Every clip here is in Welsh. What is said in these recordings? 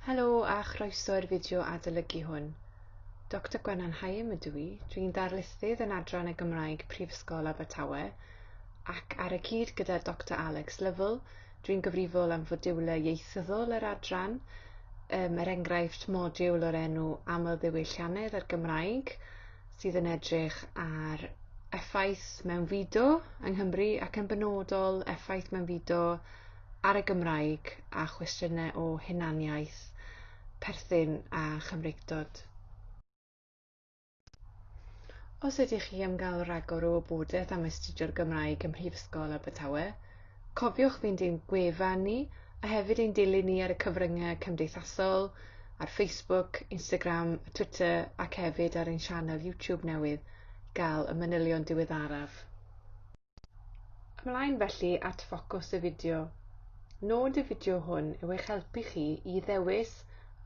Helo a chroeso i'r fideo adolygu hwn. Dr Gwenan Haim ydw i, dwi'n darlithydd yn adran y Gymraeg Prifysgol Abertawe ac ar y cyd gyda Dr Alex Lovell, dwi'n gyfrifol am fodiwlau ieithyddol yr adran, um, er enghraifft modiwl o'r enw Amlddiwylliannedd a'r Gymraeg, sydd yn edrych ar effaith mewn fido yng Nghymru ac yn benodol effaith mewn fido ar y Gymraeg a chwestiynau o hunaniaeth, perthyn a chymreictod. Os ydych chi am gael rhagor o wybodaeth am astudio'r Gymraeg ym Mhrifysgol Abertawe, Cofiwch fynd i'n gwefan ni a hefyd ein dilyn ni ar y cyfryngau cymdeithasol, ar Facebook, Instagram, Twitter ac hefyd ar ein sianel YouTube newydd, gael y manylion diweddaraf. Ymlaen felly at ffocws y fideo. Nod y fideo hwn yw eich helpu chi i ddewis,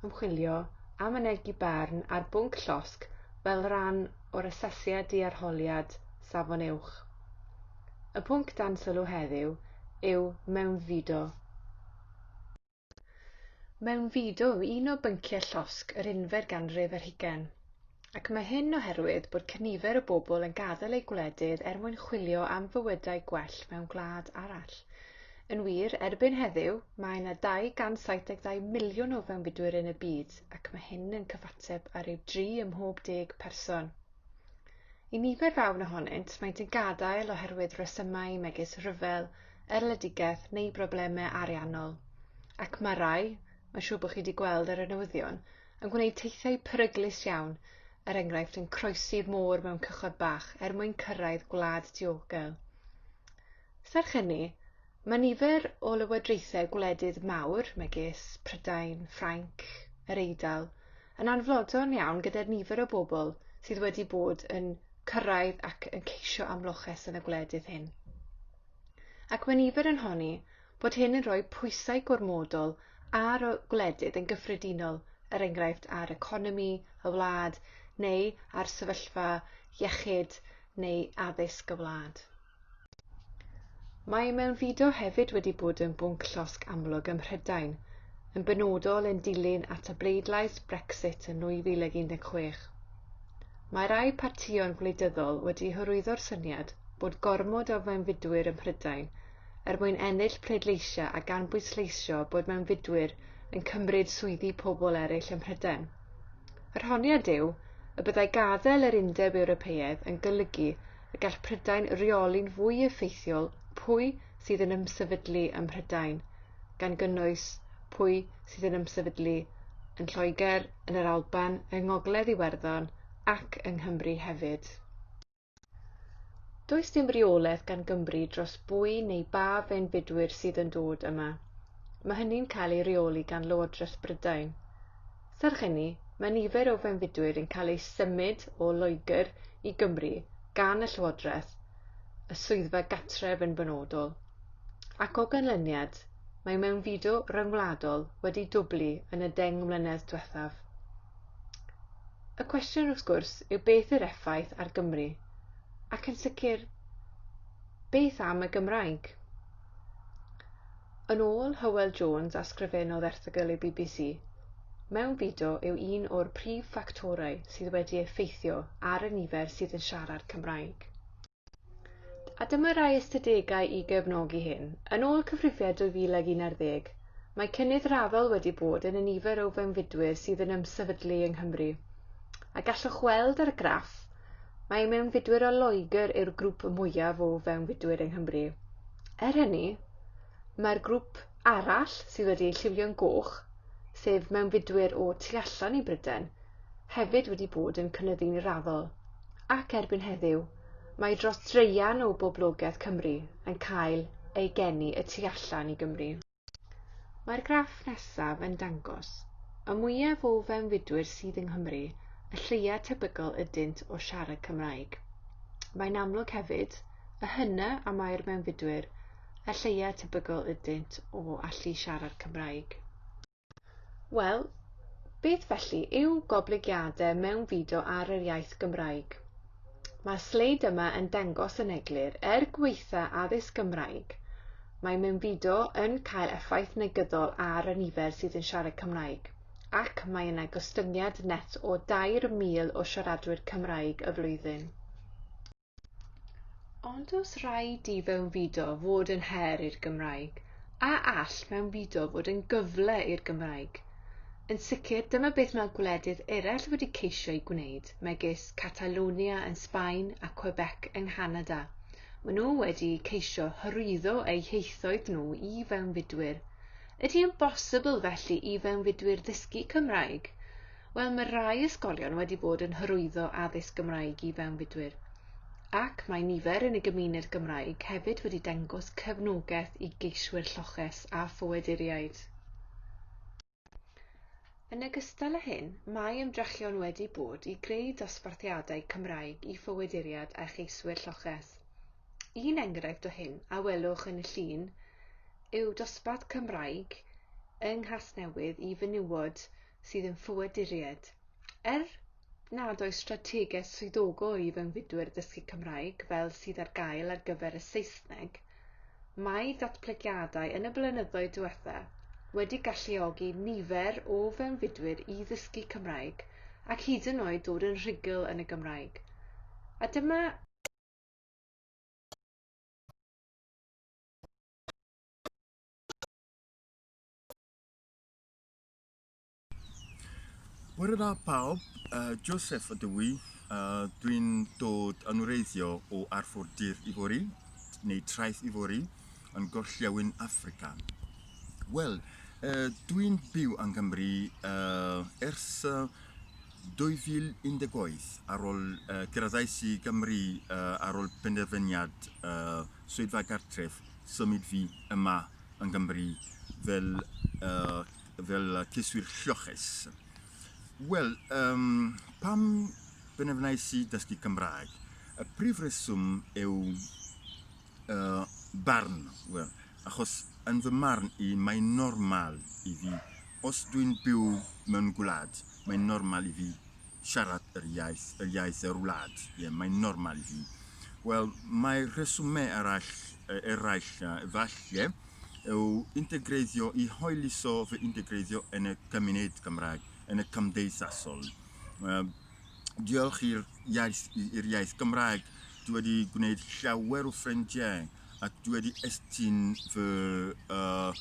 ymchwilio a mynegi barn ar bwnc llosg fel rhan o'r asesiad di-arholiad Safon Uwch. Y pwnc dan sylw heddiw yw mewnfudo. Mewnfudo yw un o bynciau llosg yr unfed ganrif ar hugain, ac mae hyn oherwydd bod cynifer o bobl yn gadael eu gwledydd er mwyn chwilio am fywydau gwell mewn gwlad arall. Yn wir, erbyn heddiw, mae yna 272 miliwn o fewnfudwyr yn y byd, ac mae hyn yn cyfateb ar ryw dri ym mhob deg person. I nifer fawr ohonynt, maent yn gadael oherwydd rhesymau megis rhyfel, erledigaeth neu broblemau ariannol. Ac mae rai, mae'n siŵr bod chi wedi gweld ar y newyddion, yn gwneud teithiau peryglus iawn, er enghraifft yn croesi'r môr mewn cychod bach er mwyn cyrraedd gwlad diogel. Serch hynny, Mae nifer o lywodraethau gwledydd mawr, megis Prydain, Ffrainc, yr Eidal, yn anfodlon iawn gyda'r nifer o bobl sydd wedi bod yn cyrraedd ac yn ceisio amloches yn y gwledydd hyn. Ac mae nifer yn honni bod hyn yn rhoi pwysau gormodol ar y gwledydd yn gyffredinol, er enghraifft ar economi y wlad neu ar sefyllfa iechyd neu addysg y wlad. Mae mewnfudo hefyd wedi bod yn bwnc llosg amlwg ym Mhrydain, yn benodol yn dilyn at y bleidlais Brexit yn 2016. Mae rhai partïon gwleidyddol wedi hyrwyddo'r syniad bod gormod o fewnfudwyr ym Mhrydain er mwyn ennill pleidleisiau a gan bwysleisio bod mewnfudwyr yn cymryd swyddi pobl eraill ym Mhrydain. Yr honiad yw y byddai gadael yr Undeb Ewropeaidd yn golygu y gall Prydain reoli'n fwy effeithiol pwy sydd yn ymsefydlu ym Mhrydain, gan gynnwys pwy sydd yn ymsefydlu yn Lloegr, yn yr Alban, yng Ngogledd Iwerddon ac yng Nghymru hefyd. Does dim reolaeth gan Gymru dros bwy neu ba fenbidwyr sydd yn dod yma. Mae hynny'n cael ei reoli gan Lywodraeth Brydain. Serch hynny, mae nifer o fewnfudwyr yn cael eu symud o Loegr i Gymru gan y Llywodraeth, y Swyddfa Gartref yn benodol, ac o ganlyniad, mae mewnfudo ryngwladol wedi dwblu yn y deng mlynedd diwethaf. Y cwestiwn, wrth gwrs, yw beth yw'r effaith ar Gymru? Ac yn sicr, beth am y Gymraeg? Yn ôl Hywel Jones a sgrifennodd erthygl i bbc, mewnfudo yw un o'r prif ffactorau sydd wedi effeithio ar y nifer sydd yn siarad Cymraeg. A dyma rai ystadegau i gefnogi hyn. Yn ôl cyfrifiad 2011, mae cynnydd raddol wedi bod yn y nifer o fewnfudwyr sydd yn ymsefydlu yng Nghymru. A gallwch weld ar y graff, Mae mewnfudwyr o Loegr yw'r grŵp mwyaf o fewnfudwyr yng Nghymru. Er hynny, mae'r grŵp arall sydd wedi eu lliwio'n goch, sef mewnfudwyr o tu allan i Bryden, hefyd wedi bod yn cynyddu'n raddol, ac erbyn heddiw, mae dros dreian o boblogaeth Cymru yn cael ei geni y tu allan i Gymru. Mae'r graff nesaf yn dangos, y mwyaf o fewnfudwyr sydd yng Nghymru, y lleiaf tebygol ydynt o siarad Cymraeg. Mae'n amlwg hefyd, y hynna a mae'r mewnfudwyr, y lleiaf tebygol ydynt o allu siarad Cymraeg. Wel, beth felly yw goblygiadau mewnfudo ar yr iaith Gymraeg? Mae'r sleid yma yn dangos yn eglur, er gweitha addysg Gymraeg, mae mewnfudo yn cael effaith negyddol ar y nifer sydd yn siarad Cymraeg, ac mae yna gostyngiad net o 2,000 o siaradwyr Cymraeg y flwyddyn. Ond os rhaid i fewnfudo fod yn her i'r Gymraeg, a all mewnfudo fod yn gyfle i'r Gymraeg? Yn sicr, dyma beth mae gwledydd eraill wedi ceisio ei gwneud, megis Catalonia yn Sbaen a Quebec yng Nghanada. Maen nhw wedi ceisio hyrwyddo eu hieithoedd nhw i fewnfudwyr. Ydy yn bosibl felly i fewnfudwyr ddysgu Cymraeg? Wel, mae rhai ysgolion wedi bod yn hyrwyddo addysg Gymraeg i fewnfudwyr, ac mae nifer yn y gymuned Gymraeg hefyd wedi dangos cefnogaeth i geiswyr lloches a ffoaduriaid. Yn ogystal â hyn, mae ymdrechion wedi bod i greu dosbarthiadau Cymraeg i ffoaduriaid a cheiswyr lloches. Un enghraifft o hyn a welwch yn y llun yw dosbarth Cymraeg yng Nghasnewydd i fenywod sydd yn ffoaduriaid. Er nad oes strategaeth swyddogol i fewnfudwyr dysgu Cymraeg fel sydd ar gael ar gyfer y Saesneg, mae datblygiadau yn y blynyddoedd diwetha wedi galluogi nifer o fewnfudwyr i ddysgu Cymraeg ac hyd yn oed dod yn rhugl yn y Gymraeg. A dyma Wel da pawb, uh, Joseph ydw i, uh, dwi'n dod yn wreiddio o Arfordir Ifori, neu Traeth Ifori, yn gorllewin Africa. Wel, uh, dwi'n byw yng Nghymru uh, ers uh, 2018 ar ôl uh, gyrraedd i Gymru uh, ar ôl penderfyniad uh, Swyddfa Gartref symud fi yma yng Nghymru fel yy fel yy cyswir lloches. Wel, um, pam benefnais i dysgu Cymraeg? Y prif reswm yw uh, barn. Wel, achos yn fy marn i, mae'n normal i fi. Os dwi'n byw mewn gwlad, mae'n normal i fi siarad yr iaith, yr iaith yr wlad. Ie, yeah, mae'n normal i fi. Wel, mae rheswmau arall eraill, efallai, yw integreiddio, i hoeliso fy integreiddio yn y cymuned Cymraeg, yn y cymdeithasol. Diolch i'r iaith, i'r iaith Gymraeg, dwi wedi gwneud llawer o ffrindiau ac dwi wedi estyn fy uh,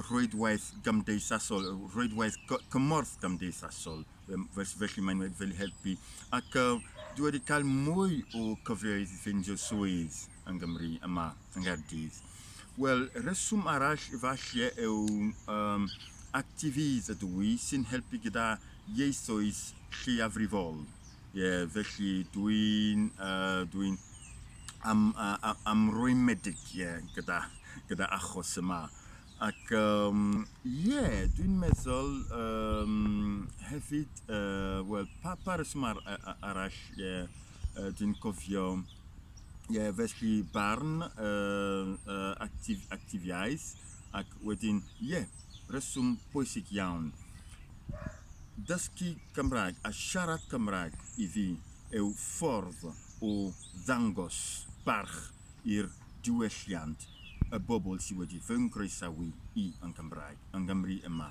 rhwydwaith gymdeithasol, rhwydwaith cymorth gymdeithasol, felly mae'n wedi fel helpu. Ac uh, dwi wedi cael mwy o cyfleoedd i ffeindio swydd. yng Nghymru, yma yng Nghaerdydd. Wel, rheswm arall efallai yw um, activities ydw i sy'n helpu gyda ieithoedd lleiafrifol. Ie, yeah, felly dwi'n uh, dwi am, uh, amrwymedig yeah, gyda, gyda achos yma. Ac ie, um, yeah, dwi'n meddwl um, hefyd, uh, wel, pa, pa reswm ar, arall, ie, yeah, uh, dwi'n cofio. Ie, yeah, felly barn, uh, uh, actif, actifiaeth, ac wedyn, ie, yeah, reswm bwysig iawn. Dysgu Cymraeg a siarad Cymraeg i fi yw ffordd o ddangos barch i'r diwylliant y bobl sydd wedi fy nggroesawu i yn Cymraeg, yng Nghymru yma.